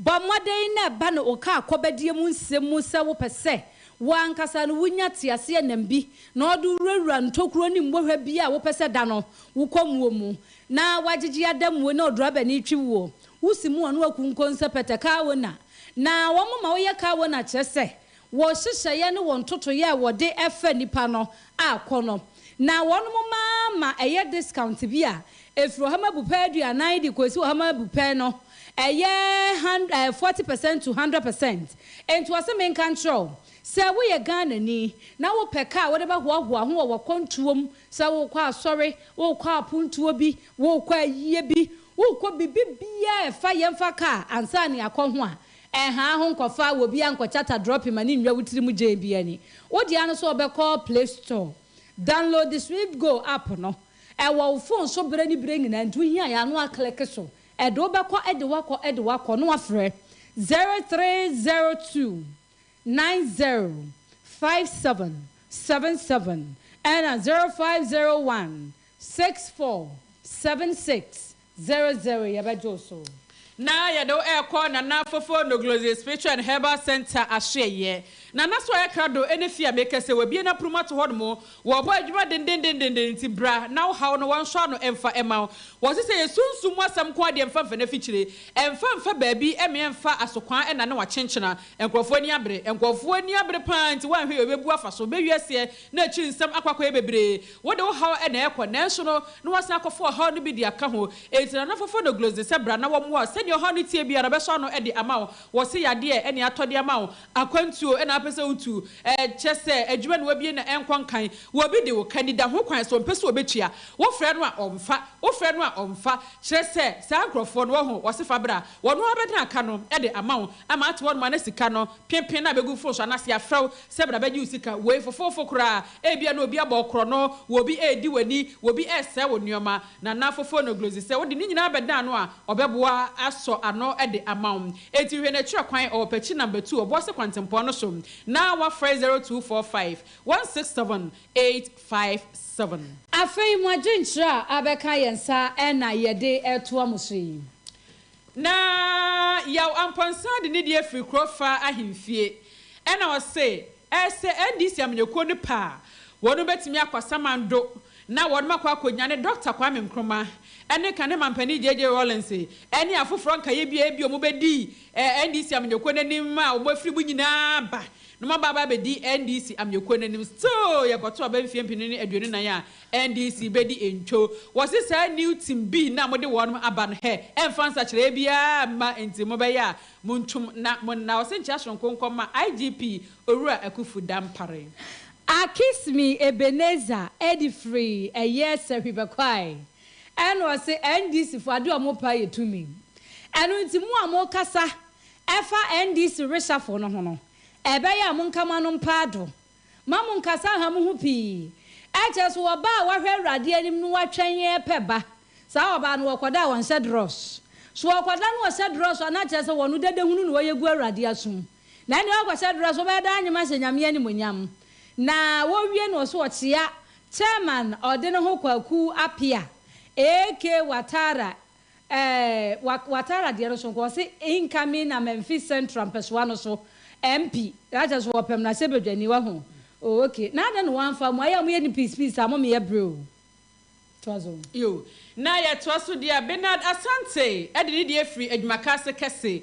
Bɔ mmɔden na ɛba no wo kaa kɔbadie mu nsɛm mu sɛ wopɛ sɛ wo ankasa no wonya teaseɛnam bi na ɔde wo wurawura ntokuro ne mmɔhwa biara a wopɛ sɛ da no wo kɔmuo mu na woagyegye adamuo na ɔdrɔbani twe woɔ wo se mu ɔno akunkonsɛ pɛtɛ car owner na wɔn ma woyɛ car owner kyerɛ sɛ Wɔ nhyehyɛeɛ ne wɔ ntotoeɛ a wɔde fa nnipa no a kɔ no, na wɔnom mma ma ɛyɛ discount bi a ɛfiri ɔhama bu pɛ aduanan de kɔsi ɔhama bu pɛ no ɛyɛ hand ɛɛ forty percent to hundred percent. Enti wɔse menka nkyerɛ wo, sɛ woyɛ Ghanani na wopɛ car a wode bɛhoahoa ho wɔ wakwantuo mu, sɛ worekɔ asɔre, worekɔ apontuo bi, worekɔ ayie bi, worekɔ biribi biara a ɛfa yɛmfa car ansa na yɛakɔ ho a, Ɛnhaa ho nkɔfa wɔ biaa nkɔkyata drɔpi ma ne nwura wo tiri mu gyɛn biaa ni. Wo deɛ no so ɔbɛ kɔ play store download sweet go app no ɛwɔ wo phone so berɛ ne berɛ nyinaa nti wo hia yɛ a no a click so ɛde wo bɛ kɔ ɛde wakɔ ɛde wakɔ no wafrɛ zero three zero two nine zero five seven seven seven ɛna zero five zero one Six four seven six zero zero yɛbɛgye wo so. Na yɛde wo rekɔ Nana Fofo Noglozzi Spiritual and Herbal Centre Asoɛeɛ. Nana so ayɛ krado ne fie a meka sɛ wabue n'aponom ato hɔnom. Wɔbɔ adwuma dendendenden nti bra na wo haw no wɔnsɔ ano mfa mma wo. Wɔse sɛ yɛ sunsum mu asɛm nko ara deɛ mfa mfa n'afikyire. Mfa mfa baabi mmea mfa asokwan nna ne wakyenkyena. Nkurɔfoɔ ani abere. Nkurɔfoɔ ani abere pa ara nti woanhwɛ yie wobɛbu afa so. Bɛwie aseɛ na akyiri nsɛm akɔ akɔyɛ bebree. Wode wo haw na ɛrekɔ, nanso no, na woasan akɔfa ɔhaw no bi de aka ho. Enti Nana Fofonoglous de sɛ bra na wɔmmoa wo sɛnea ɔhaw no teɛ biara no bɛsɔ ano de ama wo. Wɔse yadeɛ ɛne atɔ de ama wo, akwantuo ɛna apɛ sɛ wotu, ɛɛ kyɛ sɛ adwuma na wabie na ɛnkɔ nkan. Wɔbi de wo ka anida ho kwan sɛ ɔmpɛ sɛ ɔbɛtua. Wofrɛ no a ɔmfa, wofrɛ no a ɔmfa. Kyerɛ sɛ saa nkorɔfoɔ no, wɔho, wɔse fa bra. Wɔno ara bɛdene aka no de ama wo ama ate hɔ nom a na sika no, penpen no a bɛgu wo fon so anaa se yɛafrɛ wo Sɛ bra bɛgye wo sika. Wei fofoofo koraa. Ebia na obi abɔ wo korɔno, wɔ obi redi w'ani, wɔ obi resɛe wo nneɛma. Nana Fofo no glozi sɛ wode ne nyinaa bɛdan no a, ɔbɛboa asɔ ano de ama wo. Enti hwɛ n'akyirɛ kwan, ɔwɔ Pɛkyi Number Two, Ɔboase Kwantempɔn no so na wafrɛ 0245167857. Afei mo adwenkyerɛ a abɛka yɛn nsa na yɛde retoa mo so yi. Na Yaw Amponsah de nidi afiri kuro faa ahemfie. Ɛna ɔse ɛsɛ NDC amanyɔkuo no pɛ a, wɔnom bɛtumi akɔ Asamando na wɔnom akɔ akɔnyane Dɔkta Kwame Nkrumah ɛne ka ne mampanin JJ Rawlings ɛne afoforɔ nkaeɛ biara bi a wɔn bɛdi NDC amanyɔkuo no anim a wɔn afiri mu nyinaa ba na wɔn aba aba abɛdi NDC amanyɔkuo no anim. Still yɛkɔto aba mfie mpenu ne aduonu nan a NDC bedi ntwo. Wɔse saa new team bii na mode wɔnom aba no hɛ ɛnfa nsakyeraɛ biaa mma nti mobɛyɛ a montwom na monna ɔsenkyea soronko nkɔma IGP Owura Akufu Dampare. Akismi Ebenezer ɛde firi ɛyɛɛ sɛhwi bɛkɔae ɛna ɔse NDC foɔ adeɛ ɔmo pɛ ayɛ tumi ɛno nti mo a mo kasa ɛfa NDC reshuffle no ho no ɛbɛyɛ a monka mo anom paado Mma mo nnkasa nnha mo ho pii. Kyerɛ so, ɔbaa a wahwɛ Awurade anim no watwɛn repɛ ba. Saa ɔbaa no, ɔkɔda a ɔnhyɛ drɔs. So ɔkɔda na ɔhyɛ drɔs a, na kyerɛ sɛ ɔno dadahunu na ɔyɛ gu Awurade asom. Na ɛnneɛ ɔkɔhyɛ drɔs, ɔbɛyɛ dɛ anyem ahyɛ Nyame animuonyam. Na wɔwie no, ɔse ɔkyea Chairman a ɔde ne ho kɔ akuw apea, AK Watara, Ɛɛ wa watara deɛ no so nko ɔse incoming na Memphis central mpɛsoa no so MP na kyɛ so wɔpɛm no asɛ badwani wahu oh ok na adɛn na wamfa mu ayɛ a moyɛ no piece piece saa momeyɛ bere o toa so. Yo, na yɛtoa so deɛ a, Benard Asante de ne deɛ firi Adwumaka ase kɛse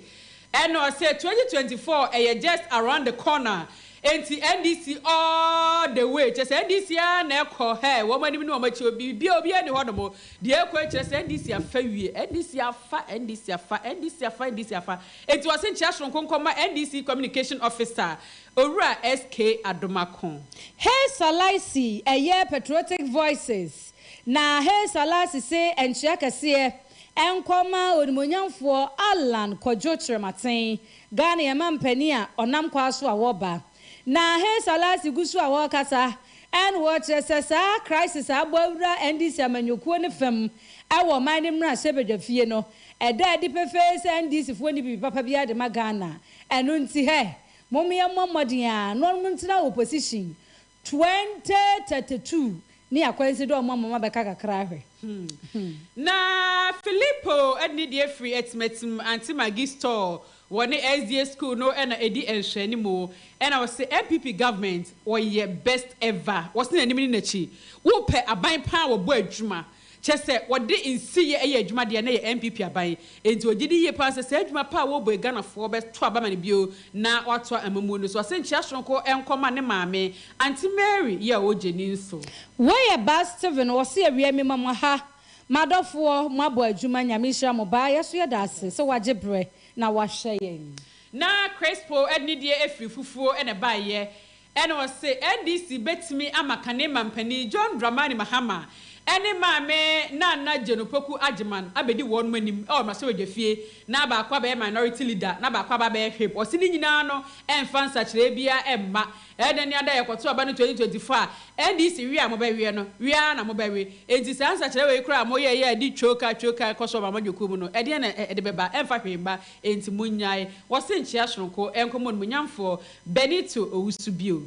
Ɛna ɔsɛ twenty twenty four ɛyɛ just around the corner enti NDC all the way kyerɛ sɛ NDC ara na ɛkɔ hɛɛ wɔn anim ne wɔn akyi o biribiara obiara nni hɔ nom deɛ ɛkɔ yi kyerɛ sɛ NDC afa wie NDC afa NDC afa NDC afa NDC afa enti ɔse nkyea soronko nkɔma NDC communication officer Owura SK Adomako. Haile Salaisi ɛyɛ patriotic voices na Haile Salasi se nkyea kɛseɛ Ɛnkɔ mma Onimuonyamfoɔ Allan Kwadwo Kyerematen, Ghana yɛn mampanin a ɔnam kwaa so a ɔreba. Na Haile Selassie gu so a ɔrekasa ɛna ɔrekyerɛ sɛ saa crisis a abɔ awura NDC amanyɔkuo no fam ɛwɔ ɔman no mmarahyɛbadwafie no, ɛda adi pefee sɛ NDC foɔ nni biribi papa biara de ma Ghana. Ɛno nti hɛ, mom yɛmmɔ mmɔden a na ɔnom ntena opposition 2032 ne akwansi dɛ ɔma moma bɛka kakra ahwɛ hmm. Na Filipo ne deɛ firi Atimatim ante Magi store wɔ ne SDA school no na ɛdi nhwɛanimu ɛna wɔse NPP government wɔyɛ best ever wɔse n'anim ne n'akyi wopɛ aban paa wɔbɔ adwuma Kyerɛ sɛ, wɔde nsiyɛ yɛ adwuma deɛ na ɛyɛ NPP aban. Enti ɔgye di yie pa ara sɛ saa adwuma pa a wɔrebɔ yi Ghanafoɔ bɛto aba ma no bio na wɔatoa amammuo no so. Ɔse nkyea sononko nkɔ ma ne maame, Aunty Mary, yɛ ɔwɔ Gyeni nso. Wei yɛ Baa Steven ɔse awia mema mo ha madɔfoɔ mo abɔ adwuma Nyame nhyira mo Baa yɛso yɛda ase sɛ wagye berɛ na wahwɛ yɛn. Na Crispo de ne deɛ afiri fufuo na ɛbaeɛ. Ɛna ɔse NDC bɛtumi ama kane mampanin John Dramani Mahama ne maame Nana Jane Opoku Agyemang abɛdi wɔnom anim wɔ mmarahyɛbadwafie na baako abɛyɛ minority leader na baako aba abɛyɛ whip. Ɔse ne nyinaa no ɛmfa nsakyeraɛ biara mma. Ɛna ni ada yɛkɔto aba no 2024 a NDC we a mobɛweɛ no, we ara na mobɛwe. Enti saa nsakyeraɛ wei koraa a moyɛeɛ a ɛde twoka twoka ɛkɔ so wɔ amanyɔkuo mu no, ɛdeɛn na ɛde bɛba? Ɛmfa hwee mma. Enti monnyae. Wɔse nkyea sononko nkɔmmɔ no, munyamfoɔ. Benito Owusu bio.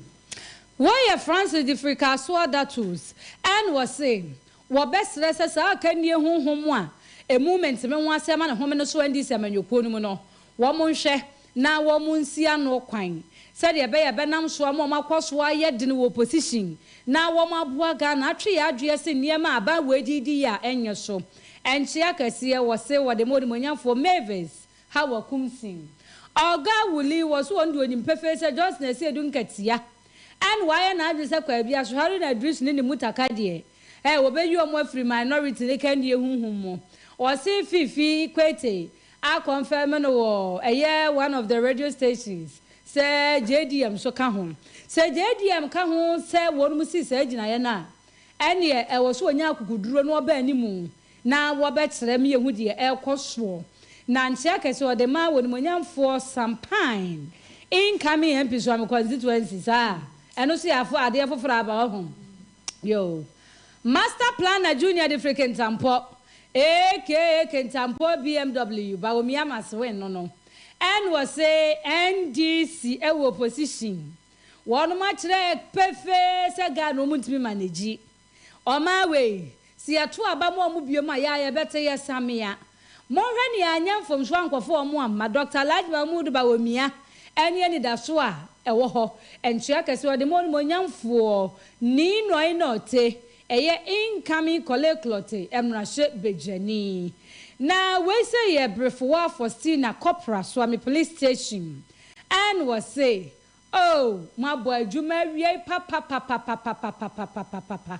Wei yɛ Franse de Frikasoɔ D'Athos and wɔse wɔbɛsrɛ sɛ saa akannie honhom a ɛmu menteme ho asɛm a ne home no so andi sɛ amanyɔkuo no mu no, wɔnhwɛ na wɔnsi ano kwan sɛdeɛ ɛbɛyɛ a ɛbɛnam so ama wɔakɔ so ayɛ dene wɔ opposition na wɔaboa Ghana atwe yɛn adweɛ se nneɛma a aban wei de redi yɛ a ɛnyɛ so nkyea kɛseɛ. Wɔse wɔde ma Onimuonyamfoɔ Mavis ha wɔ Kumsing. Ɔga Wuli wɔ so wɔ no de onim pefee sɛ Johnson asi edu nkatia and wayɛ n'adwene sɛ Kwabi, Asohare na Idris ne ne Mutaka deɛ eh wɔbɛyi wɔn afiri minority ne Kandie honhom mu. Ɔse Fifi Kwete a confirm no wɔ ɛyɛ one of the radio stations sɛ JDM nso ka ho. Sɛ JDM ka ho sɛ wɔnom sii saa gyinaeɛ no a ɛneɛ ɛwɔ so ɔnya akukuduro na ɔba animu Na wɔbɛkyerɛ me ahu deɛ ɛrekɔ soɔ. Na nkyea kɛseɛ ɔde maa w'animuonyamfoɔ Sampain incoming MP Suame constituency saa ɛno nso yɛ afo adeɛ foforɔ aba wahu yoo Master planner Junior de firi Kintampo aka Kintampo BMW Bawumia Masewen no no ɛna wɔse NDC ɛwɔ opposition wɔnom akyerɛ pefee sɛ Ghana wɔn ntumi manage Ɔmaa wei, Sɛ yɛto aba ma wɔn bio a, yɛ a yɛbɛte yɛ samea. Monhwɛ nea anyɛ mfomso ankɔfo wɔn amma. Dɔkta Laj Mahmood Bawumia, ɛne anidaso a ɛwɔ hɔ, nkyea kɛse a ɔde ma onimuonyamfoɔ Nii Nɔe Norte, ɛyɛ Incoming Korle-Klotte mmarahyɛ badwani. Na wei sɛ yɛ Brefo wɔ Afɔstina Kɔpra Suame Police Station, and wɔse Oh moabɔ adwuma awiei papapapapapapapapapapa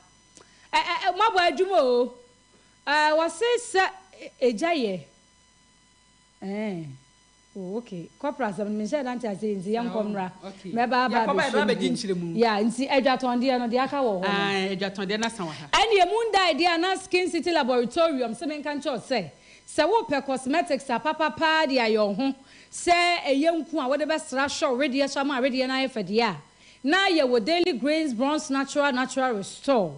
eh moabɔ adwuma oo eh wɔse sɛ egya yɛ eh oh ok kɔpra asɛm no menhyɛɛ da nte aseɛ nti yɛnkɔ mmra mɛba aba abɛhyɛ mu bio yeah nti adwatɔndeɛ no deɛ aka wɔ hɔ no ɛnneɛ mondae deɛ a na Skin City Laboritorium se menka nkyerɛ wo sɛ Sɛ worepɛ cosmetics apapa paa de ayɛ wo ho, sɛ ɛyɛ nku a wode bɛsra ahwɛ wo wedeɛ so ama wo wedeɛ no ayɛ fɛ deɛ a, na yɛ wɔ Daily Grains Bronze Natural Natural Restore.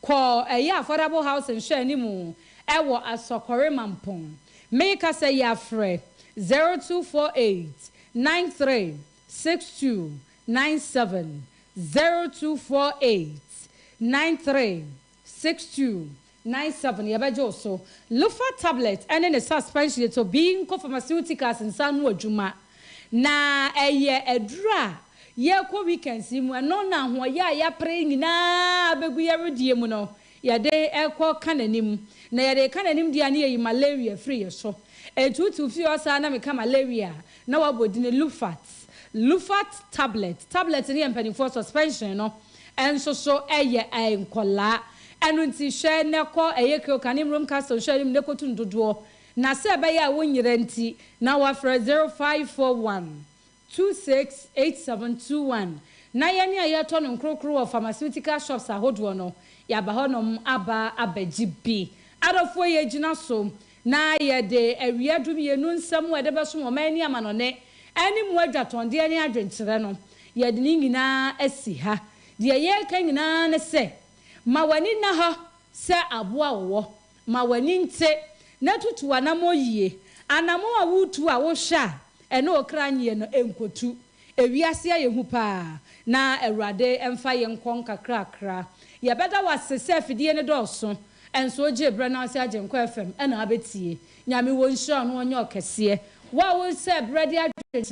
Kɔ ɛyɛ Affordable House nhwɛanimu ɛwɔ Asɔkɔre Mampong. Meka sɛ yɛ afrɛ 0248936297, 0248936297. Six two nine seven yɛbɛgye wo so. Lofa tablet ne ne suspension yɛ Tobinco Pharmaceuticals nsa ano adwuma. Na ɛyɛ aduru a yɛrekɔ weekends yi mu, ɛno na ahoɔyɛ a yɛapere yi nyinaa abɛgu yɛn wedeɛ mu no, yɛde rekɔ ka n'anim. Na yɛde reka n'anim deɛ a na yɛyi malaria firi yɛn so. Enti wote wo fie hɔ saa na meka malaria a, na woabɔ din Lufat. Lufat tablet. Tablet no yɛ mpanimfoɔ, suspension no nso so yɛ nkɔlaa. Ɛno nti hwɛ na kɔ ɛyɛ Kyoka ne Mmrom Castle nhwɛani mu na kɔtu no dodoɔ na sɛ ɛbɛyɛ a wonyera nti na wafrɛ 0541 26 8721 na yɛne a yɛtɔ no nkorokoro wɔ pharmaceutical shops ahodoɔ no yɛaba hɔnom aba abɛgye bi. Adɔfoɔ yɛgyina so na yɛde awia dumienu nsɛm a ɛde bɛsom ɔman ne amanɔne, ɛne mu adwatɔndeɛ ne adwenkyerɛ no, yɛde ne nyinaa asi ha. Deɛ yɛreka nyinaa ne sɛ, ma w'ani nna hɔ sɛ aboa a ɔwɔ, ma w'ani nte, na tutu w'anammɔn yie. Anammɔn a woretu a wohwɛ a ɛne wo kra nyeɛ no, nkɔtu. Ewiase ayɛ hu paa, na Awurade mfa yɛn nkɔ nkakrakra. Yɛbɛda wo ase sɛ afidie no dɔɔso, nso wogyee berɛ na ase Agyenkwa FM na abɛtie. Nyame wɔ nhyira a ɔno ɔnyɛ ɔkɛseɛ. Wo a wosɛɛ berɛ de adwenkyerɛ.